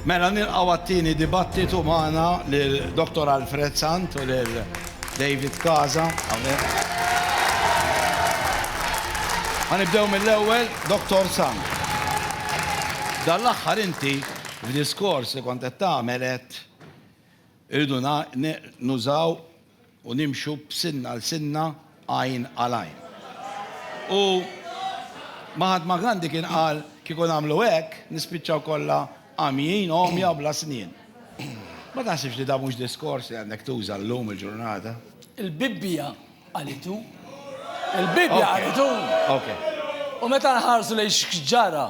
Mela nilqgħu għat-tieni dibattitu magħna lil Dr. Alfred Sant u lil David Kaza. Ma nibdew mill-ewwel, Dr. Sant. Dan l-aħħar inti f'diskors li kont qed tagħmel qed irridu nużaw u nimxu b'sinna għal sinna għajn għal għajn. U Mahatma Gandhi kien qal kieku nagħmlu hekk nispiċċaw kollha għamjin, għomja u bla snien. Ma taħsibx li dan mhux diskors li għandek tuża llum il-ġurnata? Il-Bibbja qalitu. Il-Bibbja qalitu. U meta nħarsu lejn x'ġara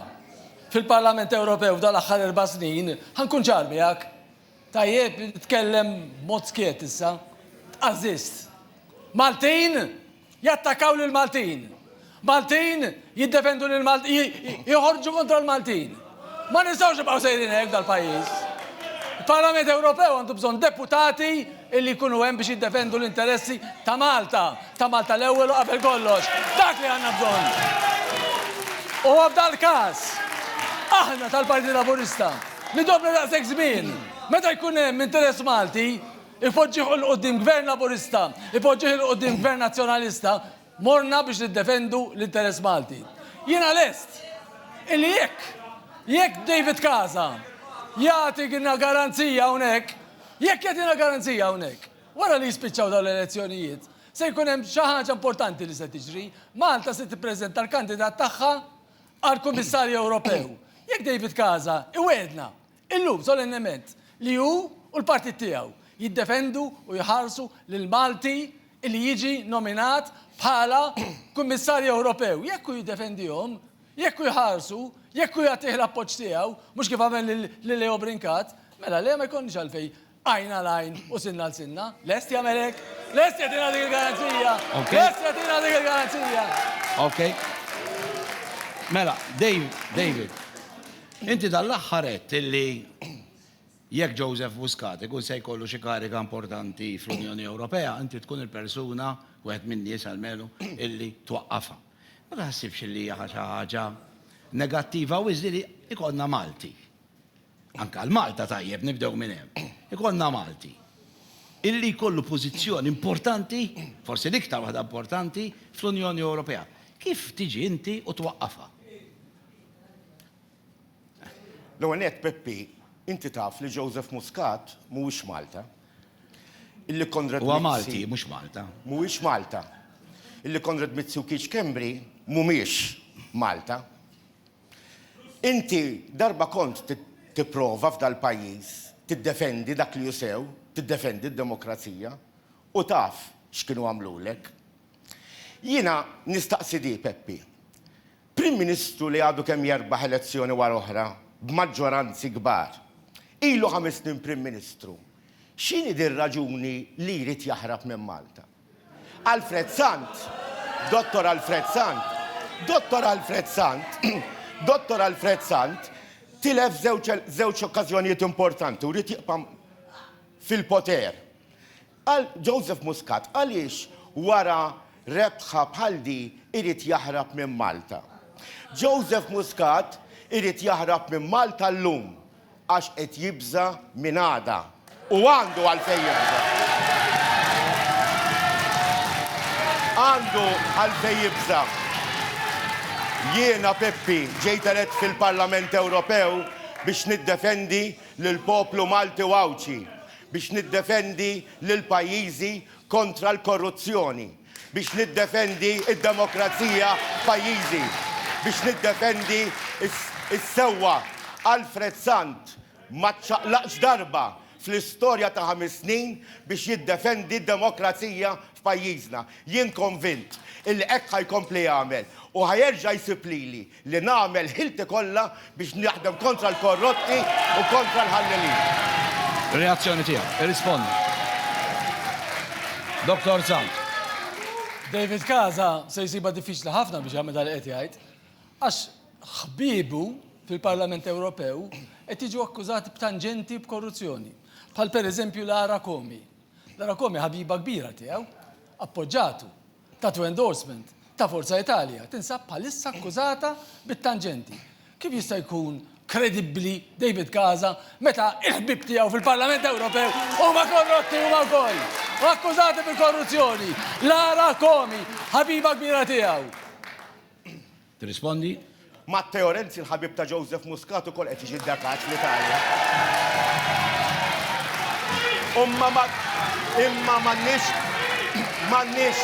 fil-Parlament Ewropew f'dan l-aħħar erba' snin, ħankun ċar miegħek. Tajjeb, tkellem b'mod skiet issa. Tqażżiżt. Maltin jattakaw lill-Maltin. Maltin jiddefendu lill-Maltin, joħorġu kontra l-Maltin. Ma nistgħux nibqgħu sejrin hekk dal-pajjiż. Il-Parlament Ewropew għandu bżonn deputati illi jkunu hemm biex jiddefendu l-interessi ta' Malta, ta' Malta l-ewwel u qabel kollox. Dak li għandna bżonn. U f'dal-każ, aħna tal-Partit Laburista nidobna daqshekk żmien. Meta jkun hemm interess Malti, ipoġġih 'l quddiem Gvern Laburista, ipoġġih 'l quddiem Gvern Nazzjonalista, Morna biex niddefendu l-interess Malti. Jiena lest illi jekk, jekk David Casa jagħtina garanzija hawnhekk, jekk jagħtina garanzija hawnhekk, wara li jispiċċaw dawn l-elezzjonijiet, se jkun hemm xi ħaġa importanti li se tiġri, Malta se tippreżenta l-kandidat tagħha għall-Kummissarju Ewropew. Jekk David Casa iwegħedna Illum, solennement, li hu u l-partit tiegħu jiddefendu u jħarsu lil Malti li jiġi nominat bħala Kummissarju Ewropew. Jekk hu jiddefendihom, jekk hu jħarsu, jekk hu jagħtih l-appoġġ tiegħu, mhux kif għamel lil Leo Brincat, mela le ma jkollniex għalfejn Għajn għal għajn u sinna għal sinna. Lest jagħmel hekk? Lest jagħtina dik il-garanzija? Lest jagħtina dik il-garanzija? Ok. Mela, Dave, David, inti dal-aħħar qed illi jekk Joseph Muscat ikun se jkollu xi kariga importanti fl-Unjoni Ewropea, inti tkun il-persuna wieħed min-nies għalmenu illi twaqqafha. Ma taħsibx li hija xi ħaġa negattiva u li jkollna Malti. anke għal Malta tajjeb nibdew minn hemm, ikollna Malti illi jkollu pożizzjoni importanti, forsi l-iktar waħda importanti, fl-Unjoni Ewropea. Kif tiġi inti u twaqqafha? L-ewwel nett Peppi, inti taf li Joseph Muscat mhuwiex Malta. Illi Konrad Mizzi. Huwa Malti, mhux Malta. Mhuwiex Malta. Illi Konrad Mizzi u Keith Schembri mhumiex Malta. Inti darba kont tipprova f'dal-pajjiż tiddefendi dak li hu sew, tiddefendi d-demokrazija, u taf x'kienu għamlulek. Jiena nistaqsi di, Peppi, Prim Ministru li għadu kemm jerbaħ elezzjoni wara oħra b'maġġoranzi kbar, ilu ħames snin Prim Ministru, x'inhi dir-raġuni li jrid jaħrab minn Malta? Alfred Sant, Dottor Alfred Sant, Dottor Alfred Sant, Dottor Alfred Sant tilef żewġ okkażjonijiet importanti u ried jibqa' fil-poter. Għal Joseph Muscat għaliex wara rebħa bħal di irid jaħrab minn Malta? Joseph Muscat irid jaħrab minn Malta llum Għax qed jibża' minn għada. U għandu għalfejn jibża'. Għandu għalfejn jibża'. Jiena, Peppi, ġejt elett fil-Parlament Ewropew biex niddefendi lill-poplu Malti u Għawdxi, biex niddefendi lil pajjiżi kontra l-korruzzjoni. biex niddefendi d-demokrazija f'pajjiżi, biex niddefendi s-sewwa. Alfred Sant ma ċċaqlaqx darba fl-istorja ta' ħames snin biex jiddefendi d-demokrazija f'pajjiżna. Jien konvint illi hekk ħa jkompli jagħmel u ħa jerġa' jsib lili. li nagħmel ħilti kollha biex naħdem kontra l-korrotti u kontra l-ħallelin. Reazzjoni tiegħu. Irrispondi. Doktor Sant. David Casa se jsibha diffiċli ħafna biex jagħmel dak li qed jgħid għax ħbiebu fil-Parlament Ewropew qed jiġu akkużati b'tanġenti b'korruzzjoni. Bħal pereżempju Lara Comi. Lara Comi ħabiba kbira tiegħu, appoġġatu. Tattoo Endorsement ta' Forza Italia tinsab bħalissa akkużata bit-tanġenti. Kif jista' jkun kredibbli David Casa meta il-ħbieb tiegħu fil-Parlament Ewropew huma korrotti huma wkoll u akkużati bil-korruzzjoni? Lara Comi, ħabiba kbira tiegħu. Tirrispondi? Matteo Renzi l-ħabib ta' Joseph Muscat ukoll qed jiġi ddakaċ fl-Italja. Umma ma imma m'għandniex m'għandniex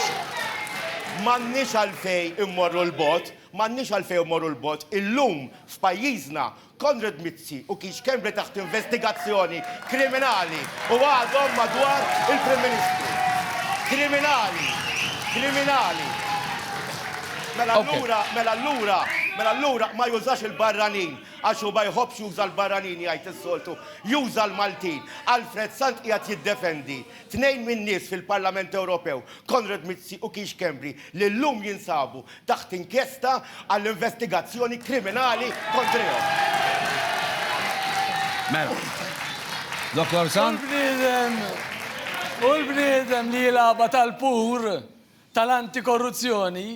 m'għandniex għalfej immorru l-bot, m'għandniex għalfej immorru l-bot. Illum f'pajjiżna Konrad Mizzi u Keith Schembri taħt investigazzjoni kriminali u għadhom madwar il-Prim Ministru. Kriminali! Kriminali! Mela allura, mela allura, mela allura ma jużax il-barranin għax hu ma jħobbx juża l-barranin jgħid is-soltu, juża l-Maltin. Alfred Sant qiegħed jiddefendi tnejn min-nies fil-Parlament Ewropew, Konrad Mizzi u Keith Schembri, li llum jinsabu taħt inkjesta għall-investigazzjoni kriminali kontrihom. Mela. Dottor Sant? U l-bniedem, u l-bniedem li jilgħabha tal-pur tal-antikorruzzjoni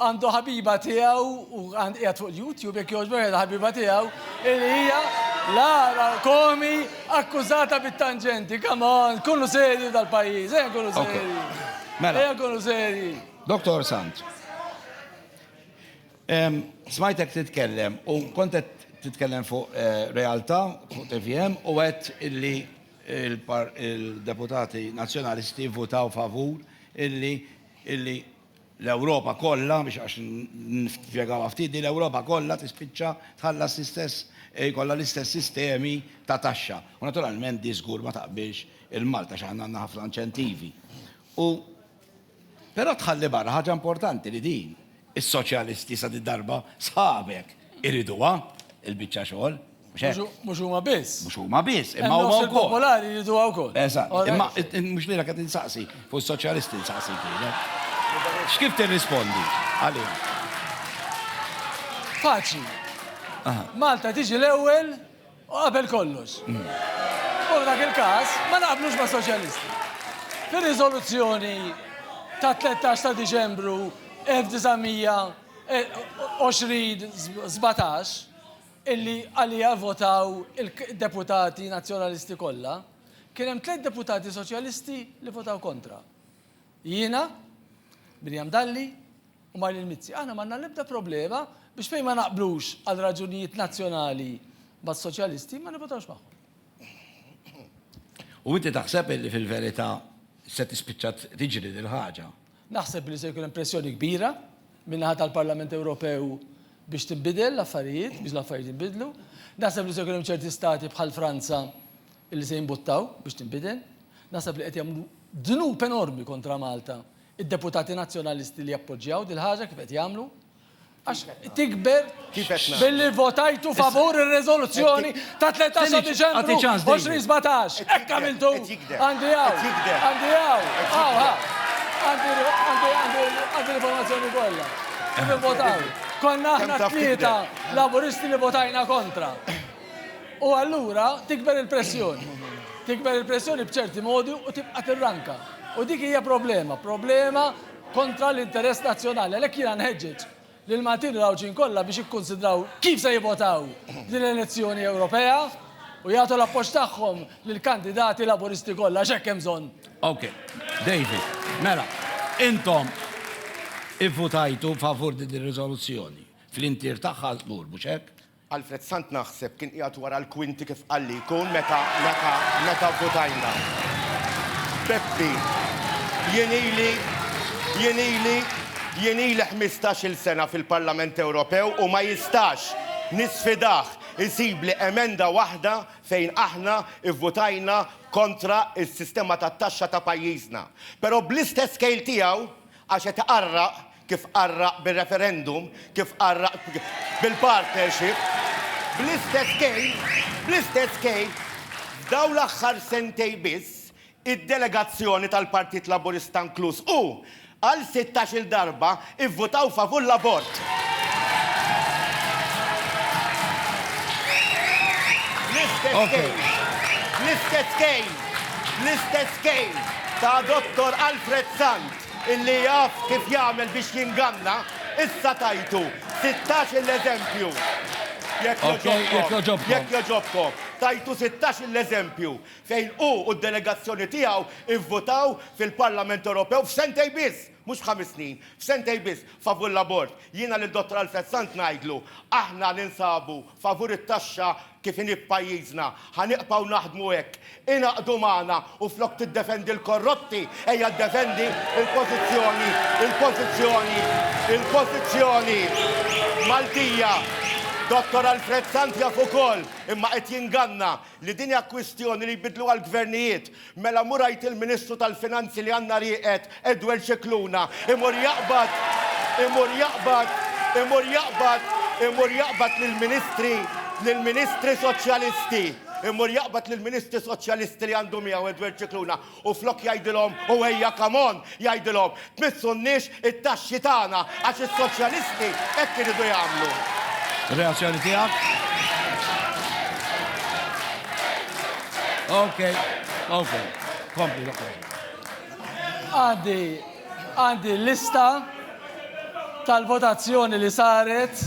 għandu ħabiba tiegħu u qiegħed fuq il-YouTube jekk jogħġbok qiegħda ħabiba tiegħu li hija Lara Komi akkużata bit-tanġenti. Come on, kunu serji tal-pajjiż, ejja kunu serji. Mela. Ejja kunu serji. Doktor Sant, smajtek titkellem u kont qed titkellem fuq eh, realtà fuq TVM u għedt illi il-deputati nazzjonalisti votaw favur illi illi l-Ewropa kollha biex għax nfjegaw ftit li l-Ewropa kollha tispiċċa tħallas l-istess eh, kollha l-istess sistemi ta' taxxa. U naturalment di żgur ma taqbilx il-Malta x'aħna għandna ħafna inċentivi. U Però tħalli barra ħaġa importanti li din is-soċjalisti sa din id-darba sħabek iriduha, il-biċċa xogħol. Mhux hekk? Mhux huma biss. Mhux huma biss, imma huma wkoll. Il-popolari jriduha wkoll. Eżatt. Imma mhux lilek qed insaqsi, fuq is-soċjalisti nsaqsi lilek. X'kif tirrispondi għalih? Faċli. Malta tiġi l-ewwel U qabel kollox, u f'dak il-każ, ma naqblux mas-Soċjalisti. Fir-riżoluzzjoni tat-13 ta' Diċembru 1920 sbatax, illi għaliha vvotaw id-deputati Nazzjonalisti kollha, kien hemm tliet deputati Soċjalisti li votaw kontra. Jiena, Miriam Dalli, u mar lil Mizzi. Aħna m'għandna l-ebda problema biex fejn ma naqblux għal raġunijiet nazzjonali mas-Soċjalisti ma nivvotawx magħhom. U inti taħseb illi fil-verità se tispiċċa tiġri din il-ħaġa? Naħseb li se jkun hemm pressjoni kbira min-naħa tal-Parlament Ewropew biex tinbidel l-affarijiet, biex l-affarijiet jinbidlu. Naħseb li se jkun hemm ċerti stati bħal Franza li se jimbuttaw biex tinbidel. Naħseb li qed jagħmlu dnub enormi kontra Malta id-deputati Nazzjonalisti li jappoġġjaw dil-ħaġa kif qed jagħmlu, għax tikber billi votajtu favur ir-riżoluzzjoni ta' 13 Diċembru 2017. Hekk għamiltu. Għandi hawn. Għandi hawn. Għandi l-informazzjoni kollha. Kif votaw? Konna aħna tlieta laburisti li votajna kontra. U allura tikber il-pressjoni. Tikber il-pressjoni b'ċerti modi u tibqa' tirranka. U dik hija problema, problema kontra l-interess nazzjonali. Għalhekk jiena nħeġġeġ lill-Maltin u l-Għawdxin kollha biex jikkunsidraw kif se jivvotaw f'din l-elezzjoni Ewropea u jagħtu l-appoġġ tagħhom lill-kandidati Laburisti kollha għax hekk hemm bżonn. Ok. David, mela, intom ivvutajtu favur din ir-riżoluzzjoni fl-intier tagħha żgur, mhux hekk? Alfred Sant naħseb kien qiegħed wara l-kwinti kif qal li jkun meta meta meta vvutajna. Peppi, jien ili jien ili jien ili ħmistax-il sena fil-Parlament Ewropew u ma jistax, nisfidah, isibli emenda waħda fejn aħna vvutajna kontra s-sistema tat-taxxa ta' pajjiżna. Però bl-istess kejl tiegħu, għax qed iqarraq, kif qarraq bir-referendum, kif qarraq bil-partnership, bl-istess kejl, bl-istess kejl, f'dawn l-aħħar sentejn biss, id-delegazzjoni tal-Partit Laburista inkluż hu, għal sittax-il darba ivvutaw favur l-abort. Bl-istess kejl, bl-istess kejl, bl-istess kejl ta' Dottor Alfred Sant. Illi jaf kif jagħmel biex jinganna, issa tajtu sittax-il eżempju. Jekk jogħġobkom, jekk jogħġobkom, tajtu sittax-il eżempju fejn hu u d-delegazzjoni tiegħu vvotaw fil-Parlament Ewropew f'sentejn biss, mhux f'ħames snin, f'sentejn biss, favur l-abort. Jiena lil Dottor Alfred Sant ngħidlu, aħna ninsabu favur it-taxxa kif inhi f'pajjiżna. Ħa niqpgħu naħdmu hekk. Ingħaqdu magħna u flok tiddefendi l-korrotti, ejja ddefendi l-pożizzjoni, il-pożizzjoni, il-pożizzjoni Maltija. Dottor Alfred Sant jaf ukoll, imma qed jinganna, li din hija kwistjoni li jbiddluha l-gvernijiet. Mela mur għid il-Ministru tal-Finanzi li għandna rieqed Edwel Scicluna. Imur jaqbad, imur jaqbad, imur jaqbad, imur jaqbad lill-Ministri, lill-Ministri Soċjalisti. Imur jaqbad lill-Ministri Soċjalisti li għandu miegħu Edwel Scicluna u flok jgħidilhom u ejja come on jgħidilhom Tmissunniex it-taxxi tagħna għax is-soċjalisti hekk iridu jagħmlu. Reazzjoni tiegħek? Ok, ok, kompli l-oħra. Għandi, għandi lista tal-votazzjoni li saret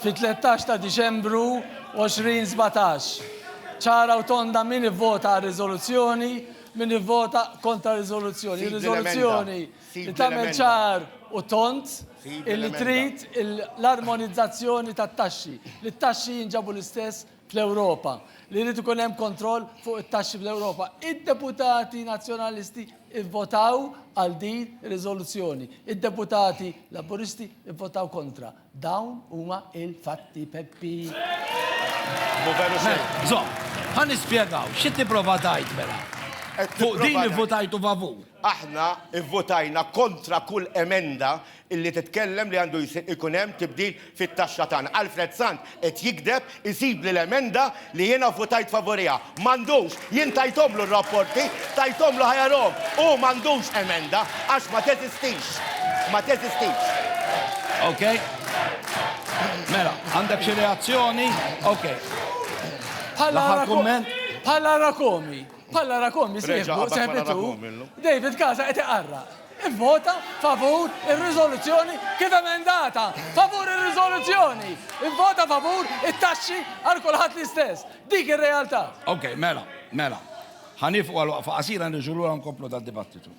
fit-13 ta' Diċembru 2017. ċara u tonda min ivvota għal riżoluzzjoni Min jivvota kontra r-riżoluzzjoni? Sid l-emenda. Ir-riżoluzzjoni Sid li tagħmel l-emenda. ċar u tond Sid illi l-emenda. trid il- l-armonizzazzjoni tat-taxxi, li t-taxxi jinġabu l-istess fl-Ewropa, li jrid ikun hemm kontroll fuq it-taxxi fl-Ewropa. Id-deputati Nazzjonalisti vvotaw għal din ir-riżoluzzjoni. Id-deputati Laburisti vvotaw kontra. Dawn huma il-fatti Peppi. Hu veru sew. Żomm, ħa nispjegaw, xi tipprova tgħid mela? Fuq din ivvutajtu favur? Aħna vvutajna kontra kull emenda li titkellem li għandu ikun hemm tibdil fit-taxxa tagħna. Alfred Sant qed jigdeb isibli l-emenda li jiena vvutajt favuriha. M'għandux, jien tajthomlu r-rapporti, tajthomlu ħa jarahom. Hu m'għandux emenda għax ma teżistix. Ma teżistix. Okay. Mela, għandek xi reazzjoni? Okay. Bħala L-aħħar kumment? Bħala Rakomi. Bħala rakum jisieħbu, sehbitu, David Casa qed iqarraq. Ivvota favur ir-riżoluzzjoni kif emendata. Favur ir-riżoluzzjoni. Ivvota favur it-taxxi għal kulħadd l-istess. Dik ir-realtà. Ok, mela, mela. Ħa nieqfu għal waqfa qasira nirġu lura nkomplu dad-dibattitu.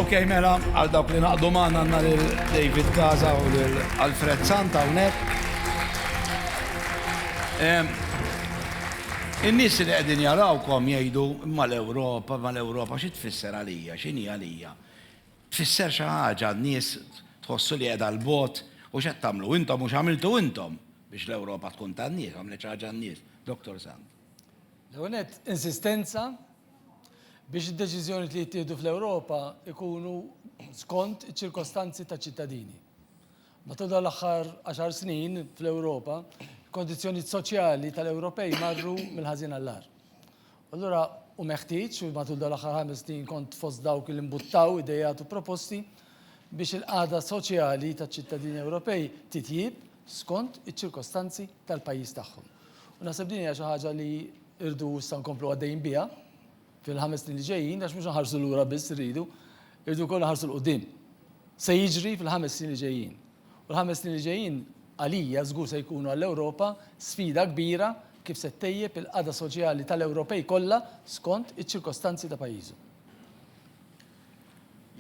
Ok, mela, għal dawk li naqdu maħna għanna l-David Gaza u l-Alfred Santa unek. In-nis li għedin jarawkom jgħidu mal-Europa, mal-Europa, xie tfisser għalija, xini għalija. Tfisser xi ħaġa, n-nies tħossu li qiegħda 'l bogħod, u x'qed tagħmlu intom u x'għamiltu intom biex l-Ewropa tkun tan-nies, għamlet xi ħaġa n-nies? Dottor Sant. L-ewwel nett, insistenza biex id-deċiżjonijiet li jittieħdu fl-Ewropa jkunu skont iċ-ċirkostanzi taċ-ċittadini. Matul dawn l-aħħar għaxar snin fl-Ewropa, il-kondizzjonijiet soċjali tal-Ewropej marru mill-ħażin għall-agħar. Allura hu meħtieġ, u matul dawn l-aħħar ħames snin kont fost dawk li mbuttaw ideat u proposti biex il-qagħda soċjali taċ-ċittadini Ewropej titjieb skont iċ-ċirkostanzi tal-pajjiż tagħhom. U naħseb din hija xi ħaġa li rridu issa nkomplu għaddejjin biha fil-ħames snin li ġejjin għax mhux inħarsu lura biss irridu, irridu wkoll inħarsu 'l quddiem. Se jiġri fil-ħames snin li ġejjin? U l-ħames snin li ġejjin għalija żgur se jkunu għall-Ewropa sfida kbira kif se ttejjeb il-qagħda soċjali tal-Ewropej kollha skont iċ-ċirkostanzi ta' pajjiżhom.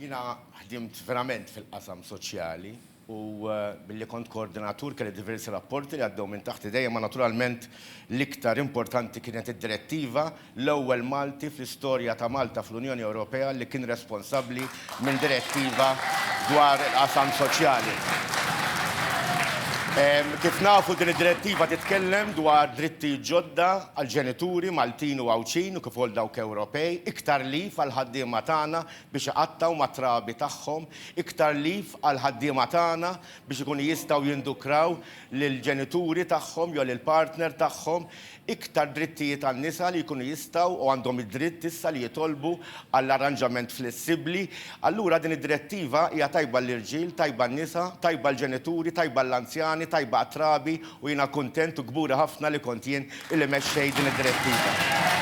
Jiena ħdimt verament fil-qasam soċjali u billi kont koordinatur kelli diversi rapporti li għaddew minn taħt idejja imma naturalment l-iktar importanti kienet id-direttiva l-ewwel Malti fl-istorja ta' Malta fl-Unjoni Ewropea li kien responsabbli minn direttiva dwar il-qasam soċjali. Kif nafu din id-direttiva titkellem dwar drittijiet ġodda għall-ġenituri Maltin u Għawdxin u kif ukoll dawk Ewropej, iktar leave għall-ħaddiema tagħna biex iqattgħu mat-trabi tagħhom, iktar leave għall-ħaddiema tagħna biex ikunu jistgħu jindukraw lill-ġenituri tagħhom jew lill-partner tagħhom, Iktar drittijiet għan-nisa li jkunu jistgħu u għandhom id-dritt issa li jitolbu għal arranġament flessibbli. Allura din id-Direttiva hija tajba għall-irġiel, tajba għan-nisa, tajba għall-ġenituri, tajba għall-anzjani, tajba għat-trabi u jiena kuntent u kburi ħafna li kont jien li mexxejt din id-Direttiva.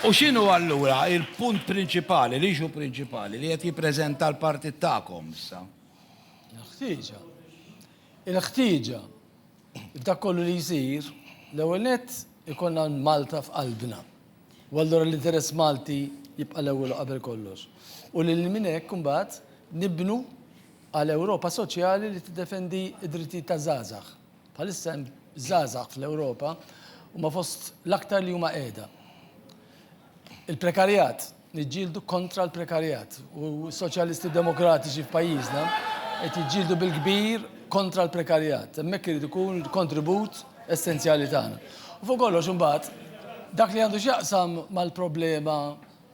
U x'inhu allura l-punt prinċipali, l-issue prinċipali li qed jippreżenta l-partit tagħkom issa? Il-ħtieġa. Il-ħtieġa. F'dak kollu li jsir, l-ewwel nett ikollna Malta f'qalbna. U allura l-interess Malti jibqa' l-ewwel u qabel kollox. U lil minn hekk imbagħad nibnu għal Ewropa soċjali li tiddefendi d-drittijiet taż-żgħażagħ. Bħalissa hemm żgħażagħ fl-Ewropa huma fost l-aktar li huma qiegħda. Il-prekarjat, niġġieldu kontra l-prekarjat u s-Soċjalisti Demokratiċi f'pajjiżna qed jiġġieldu bil-kbir kontra l-prekarjat. Hemmhekk irid ikun il-kontribut essenzjali tagħna. U fuq kollox imbagħad dak li għandu x'jaqsam mal-problema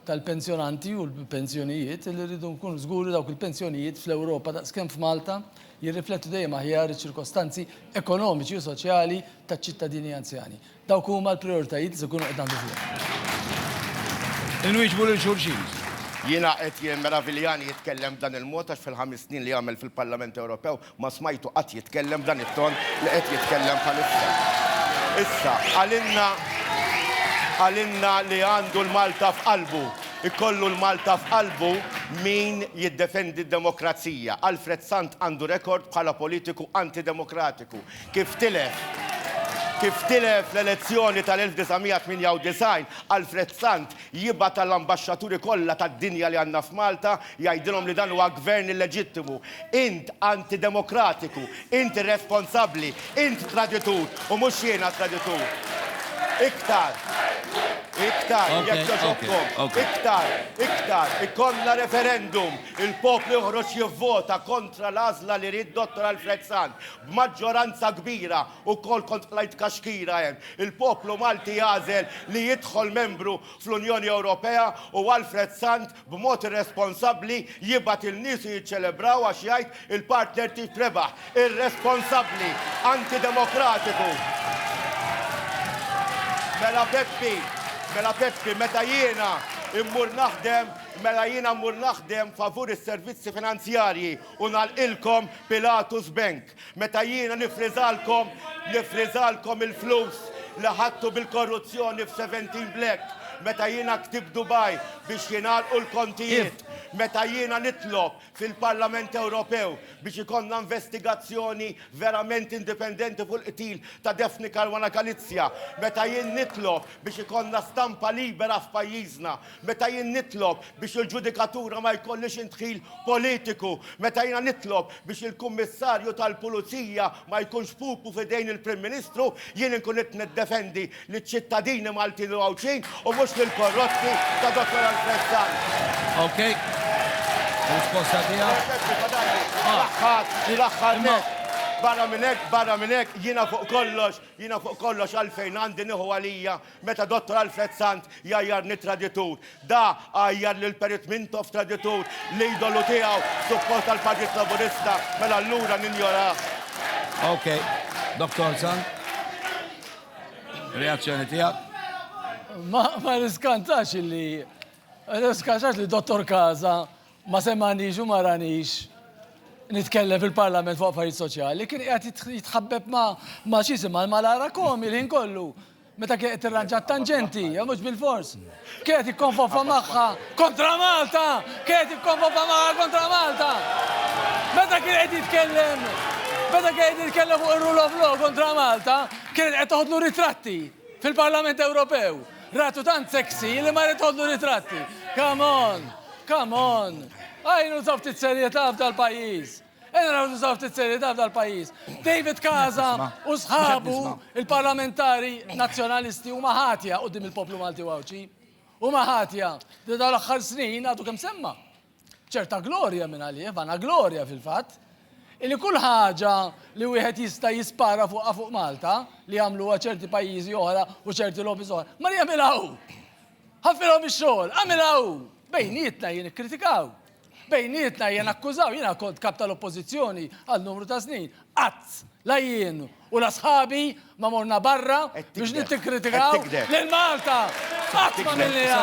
tal-pensjonanti u l-pensjonijiet li rridu nkunu żguri dawk il-pensjonijiet fl-Ewropa daqskemm f'Malta jirriflettu dejjem aħjar iċ-ċirkostanzi ekonomiċi u soċjali taċ-ċittadini anzjani. Dawk huma l-prijoritajiet li se nkunu qed naħdmu fuqhom. Inwieġbu lil xulxin. Jiena qed jimmeraviljani jitkellem b'dan il-mod għax fil-ħames snin li għamel fil-Parlament Ewropew ma smajtu qatt jitkellem b'dan it-ton li qed jitkellem bħalissa. Issa, qalilna qalilna li għandu l-Malta f'qalbu. Ikollu l-Malta f'qalbu min jiddefendi d-demokrazija. Alfred Sant għandu rekord bħala politiku antidemokratiku. Kif tilef? Kif tilef l-elezzjoni tal-1998, Alfred Sant jibgħat għall-ambaxxaturi kollha tad-dinja li għandna f'Malta jgħidilhom li dan huwa Gvern illeġittimu. Int antidemokratiku, int irresponsabbli, int traditur u mhux jiena traditur. Iktar, iktar, jekk jogħġobkom, iktar, iktar, ikollna referendum, il-poplu joħroġ jivvota kontra l-għażla li ried Dottor Alfred Sant B'maġġoranza kbira wkoll kont qlajt kaxkira hemm. Il-poplu Malti għażel li jidħol membru fl-Unjoni Ewropea u Alfred Sant b'mod irresponsabbli jibgħat il-niesu jiċċelebraw għax jgħid il-partner tiegħi rebaħ. Irresponsabbli! Antidemokratiku! Mela Peppi, mela Peppi, meta jiena mmur naħdem, mela jiena mmur naħdem favur is-servizzi finanzjarji U nagħlqilkom Pilatus Bank. Meta jiena niffriżalkom, niffriżalkom il-flus li ħadtu bil-korruzzjoni f'Seventeen Black. Meta jiena ktibt Dubai biex jingħalqu l-kontijiet. Meta jiena nitlob fil-Parlament Ewropew biex ikollna investigazzjoni verament indipendenti fuq il-qtil ta' Daphne Caruana Galizia. Meta jien nitlob biex ikollna stampa libera f'pajjiżna. meta jien nitlob biex il-ġudikatura ma jkollhiex indħil politiku, meta jiena nitlob biex il-Kummissarju tal-Pulizija ma jkunx pupu f'idejn il-Prim Ministru, jien inkun qed niddefendi liċ-ċittadini Maltin u Għawdxin u mhux lill-korrotti ta' Dottor Alfred Sant. Okay. Risposta tiegħek. Barra minn hekk, barra minn hekk, jiena fuq kollox, jiena fuq kollox għalfejn għandi nieħu għalija Meta Dottor Alfred Sant jgħajjarni traditur, da għajjar lil Perit Mintoff traditur, l-idolu tiegħu, suppost tal-Partit Laburista, mela allura ninjorah. Ok, Dottor Sant. Reazzjoni tiegħek. Ma ma niskantax li niskantax li Dottor Kaza ma semgħanix u ma ranix nitkellem fil-Parlament fuq affarijiet soċjali, kien qiegħed jitħabbeb ma' ma' xi jisimha l-malara komi l-ħin kollu. Meta kien qed tirranġa t-tanġenti, jew mhux bilfors, kien qed jikkonfofa magħha kontra Malta! Kien qed jikkonfofa magħha kontra Malta! Meta kien qed jitkellem, meta kien qed jitkellem fuq ir-rule of law kontra Malta, kienet qed toħodlu ritratti fil-Parlament Ewropew. Ratu tant sexy li marret toħodlu ritratti. Come on! Come on! Għajnu ta' ftit serjetà f'dal-pajjiż! Ejja naraw nużaw ftit serjetà f'dal pajjiż. David Casa u sħabu il-parlamentari nazzjonalisti huma ħatja quddiem il-poplu Malti u Għawdxi. Huma ħatja li dawn l-aħħar snin għadu kemm semma. ċerta glorja minn għalih, vana glorja fil-fatt, illi kull ħaġa li wieħed jista' jispara fuqha fuq Malta li jagħmluha ċerti pajjiżi oħra u ċerti lobbies oħra, mar jagħmilha hu. Ħaffilhom ix-xogħol, għamilha hu. Bejnietna jien ikkritikaw. Bejnietna ejja nakkużaw, jiena kont Kap tal-Oppożizzjoni għal numru ta' snin, qatt, la jien u la sħabi ma morna barra biex nittikritikaw lil Malta! Qatt m'għamilniha!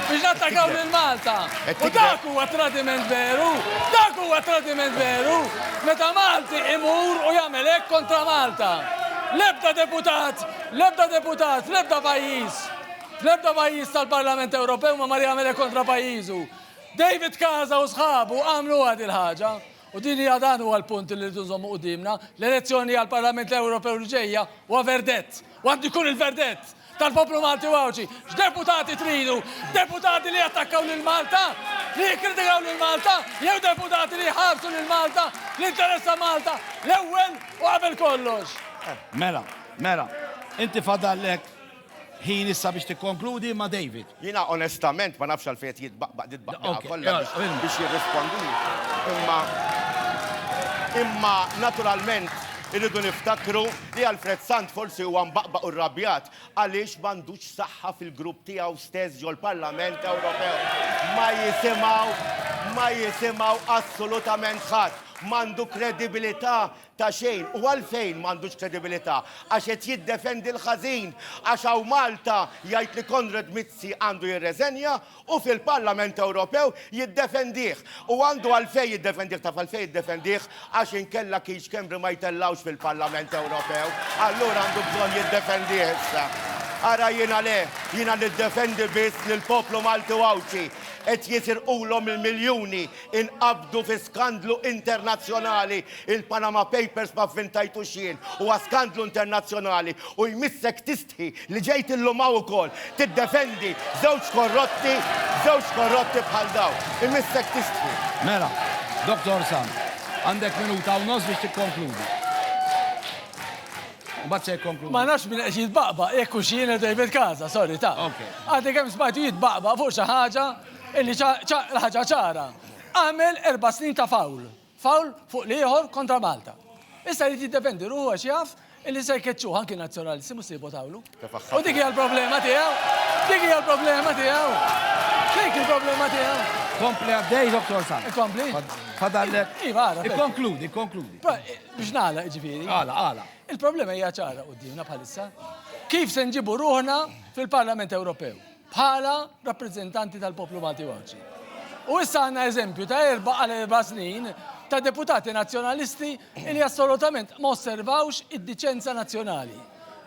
Biex nattakaw lil Malta! U dak huwa tradiment veru! Dak huwa tradiment veru! Meta Malti imur u jagħmel hekk kontra Malta! L-ebda deputat, l-ebda deputat, fl-ebda pajjiż, fl-ebda pajjiż tal-Parlament Ewropew ma mar jagħmel hekk kontra pajjiżu! David Casa u sħabu għamluha dil-ħaġa. U din hija dan huwa l-punt li rridu nżommu quddiemna, l-elezzjoni għall-Parlament Ewropew li ġejja huwa verdett. U għandu jkun il-verdett tal-poplu Malti u Għawdxi. X'deputati tridu? Deputati li jattakkaw lil Malta? Li jikkritikaw lil Malta? Jew deputati li jħarsu lil Malta? Li interessa Malta l-ewwel u qabel kollox. Mela, mela, inti fadallek Ħin issa biex tikkonkludi ma' David. Jiena onestament ma nafx għalfejn qed jitbaqbaq dil-baqbieqa kollha biex jirrispondili. Imma imma naturalment irridu niftakru li Alfred Sant forsi huwa mbaqbaq u rrabjat għaliex m'għandux saħħa fil-grupp tiegħu stess ġol-Parlament Ewropew. Ma jisimgħu ma jisimgħu assolutament ħadd. M'għandu kredibilità ta' xejn u għalfejn m'għandux kredibilità? Għax qed jiddefendi l-ħażin? Għax hawn Malta jgħid li Konrad Mizzi għandu jirreżenja u fil-Parlament Ewropew jiddefendih? U għandu għalfejn jiddefendih, taf għalfejn jiddefendih? Għax inkella kien Schembri ma jtellgħux fil-Parlament Ewropew. Allura għandu bżonn jiddefendih issa. Ara jiena le, jiena niddefendi biss lill-poplu Malti u Għawdxi. Qed jisirqulhom il-miljuni, Inqabdu fi skandlu internazzjonali, il-Panama Papers ma vvintajtux jien, huwa skandlu internazzjonali u jmissek tistħi li ġejt illum hawn ukoll tiddefendi żewġ korrotti, żewġ korrotti bħal dawn. Imissek tistħi. Mela, Dottor Sant, għandek minuta u nofs biex tikkonkludi. Mbagħad se jikkonkludi. Ma nafx min qed jitbaqbaq, jekk hux jien jew David Casa, sorry, taf. Għadni kemm smajtu jitbaqbaq fuq xi ħaġa Illi ġa l-ħaġa ċara, għamel erba' snin ta' foul, foul fuq l-ieħor kontra Malta. Issa jrid jiddefendi ruħu għax jaf illi se jkeċċuh anki n-Nazzjonalisti mhux se jivvotawlu. U dik hija l-problema tiegħu, dik hija l-problema tiegħu. Dik il-problema tiegħu. Kompli għaddej, Dr. San. Kompli? Fadallek. Iva, għara. Ikkonkludi, ikkonkludi. Biex nagħla, ġifieri. Għala, għala. Il-problema hija ċara qudiemna bħalissa. Kif se nġibu ruħna fil-Parlament Ewropew? bħala rappreżentanti tal-poplu Malti u Għawdxi. U issa għandna eżempju ta' erba' għal erba' snin ta' deputati nazzjonalisti li assolutament ma osservawx id-diċenza nazzjonali.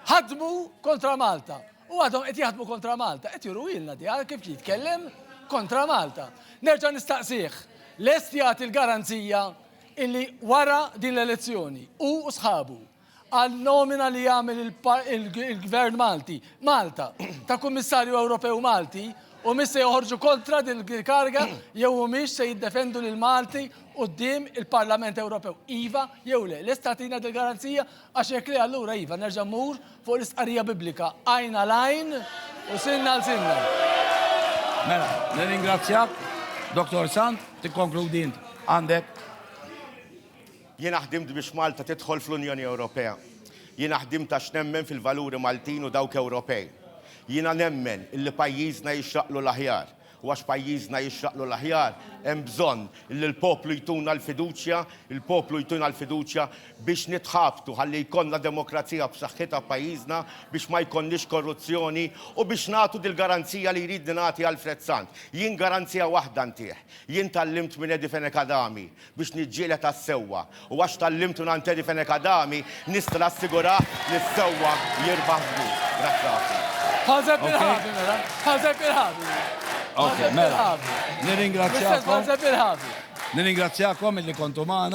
Ħadmu kontra Malta u għadhom qed jaħdmu kontra Malta, qed juruwilna di għal kif jitkellem kontra Malta. Nerġa' nistaqsih, lest jagħti l-garanzija illi wara din l-elezzjoni hu u sħabu għan-nomina li jagħmel il-Gvern Malti, Malta, ta' Kummissarju Ewropew Malti, u mhix se joħorġu kontra din il-kariga jew humiex se jiddefendu lil Malti quddiem il-Parlament Ewropew. Iva jew le? Lest tagħtina dil-garanzija? Għax jekk le allura iva nerġa' mmur fuq l-istqarrija Biblika, għajn għal għajn u sinn għal sinna. Mela, nirringrazzjak, Dottor Sant, tikkonkludi int. Għandek. Jiena ħdimt biex Malta tidħol fl-Unjoni Ewropea. Jiena ħdimt għax nemmen fil-valuri Maltin u dawk Ewropej. Jiena nemmen illi pajjiżna jixraqlu l-aħjar u għax pajjiżna jixraqlu l-aħjar hemm bżonn illi l-poplu jtuna l-fiduċja, il-poplu jtina l-fiduċja biex nitħabtu ħalli jkollna demokrazija b'saħħitha f'pajjiżna, biex ma jkollniex korruzzjoni u biex nagħtu dil-garanzija li jridni nagħti Alfred Sant. Jien garanzija waħda ntih. Jien tgħallimt minn Eddie Fenech Adami. biex niġġieled għas-sewwa, u għax tgħallimt minn Anteri Fenech Adami, nista' nassigurah li s-sewwa jirbaħ żgur. Grazzi ħafna. Ħaseb il-ħabi mela, ħaseb il-ħabi. Ok, mela. Nirringrazzjakom. Nirringrazzjakom illi kontu magħna.